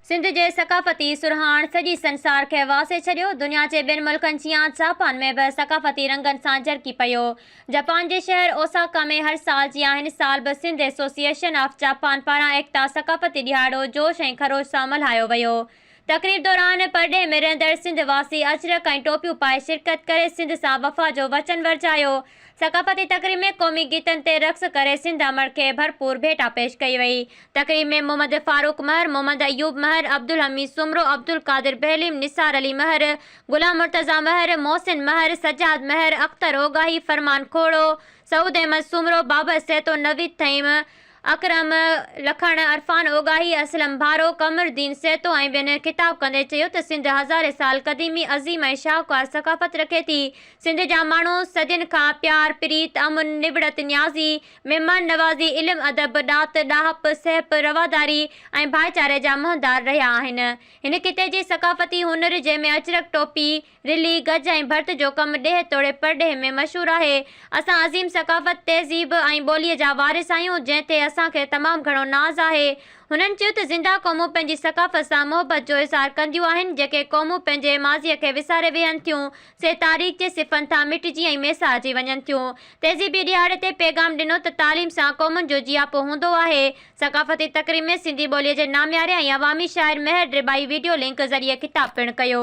سنڌ جي ثقافتي سرهاڻ سڄي سنسار کي واسي ڇڏيو، دنيا جي ٻين ملڪن جيان جاپان ۾ به ثقافتي رنگن سان جرڪي پيو. جپان جي شهر اوساڪا ۾ هر سال جيان هن سال به سنڌ ايسوسيئيشن آف جاپان پاران ايڪتا ثقافتي ڏهاڙو جوش ۽ خروش سان ملهايو ويو. تقريب دوران پرڏيهه ۾ رهندڙ سنڌ واسي اجرڪ ۽ ٽوپيون پائي شرڪت ڪري سنڌ سان وفا جو وچن ورجايو ثقافتي تقريب ۾ قومي گيتن تي رقص ڪري سنڌ امڙ کي ڀرپور ڀيٽا پيش ڪئي وئي. تقريب ۾ محمد فاروق مهر، محمد ايوب مهر، عبدالحميد سومرو، عبدالقادر بهليم، نثار علي مهر، غلام مرتضيٰ مهر، محسن مهر، سجاد مهر، اختر اوڳاهي، فرمان کوڙو، سعود احمد سومرو، بابر سهتو، نويد ٿهيم، اڪرم لکڻ، عرفان اوڳاهي، اسلم ڀارو، قمر الدين سهتو ۽ ٻين خطاب ڪندي چيو ته سنڌ هزارين سال قديمي، عظيم ۽ شاهوڪار ثقافت رکي ٿي. سنڌ جا ماڻهو صدين کان پيار، پريت، امن، نٻڙت نيازي، مهمان نوازي، علم ادب، ڏات، ڏاهپ، سهپ، رواداري ۽ ڀائيچاري جا مهندار رهيا آهن. هن خطي جي ثقافتي هنر جنهن ۾ اجرڪ ٽوپي، رلي، گج ۽ ڀرت جو ڪم ڏيهه توڙي پرڏيهه ۾ مشهور آهي. اسان عظيم ثقافت، تهذيب ۽ ٻوليء جا وارث آهيون، جنهن تي اسان کي تمام گهڻو ناز آهي. هنن چيو ته زنده قومون پنهنجي ثقافت سان محبت جو اظهار ڪنديون آهن، جيڪي قومون پنهنجي ماضيء کي وساري ويهن ٿيون، سي تاريخ جي صفن ٿان مٽجي ۽ ميسارجي وڃن ٿيون. تهذيبي ڏهاڙي تي پيغام ڏنو ته تعليم سان قومن جو جياپو هوندو آهي، ثقافتي تقريب ۾ سنڌي ٻوليء جي نامياري ۽ عوامي شاعر مهر ڊريبائي ويڊيو لنڪ ذريعي خطاب پڻ ڪيو.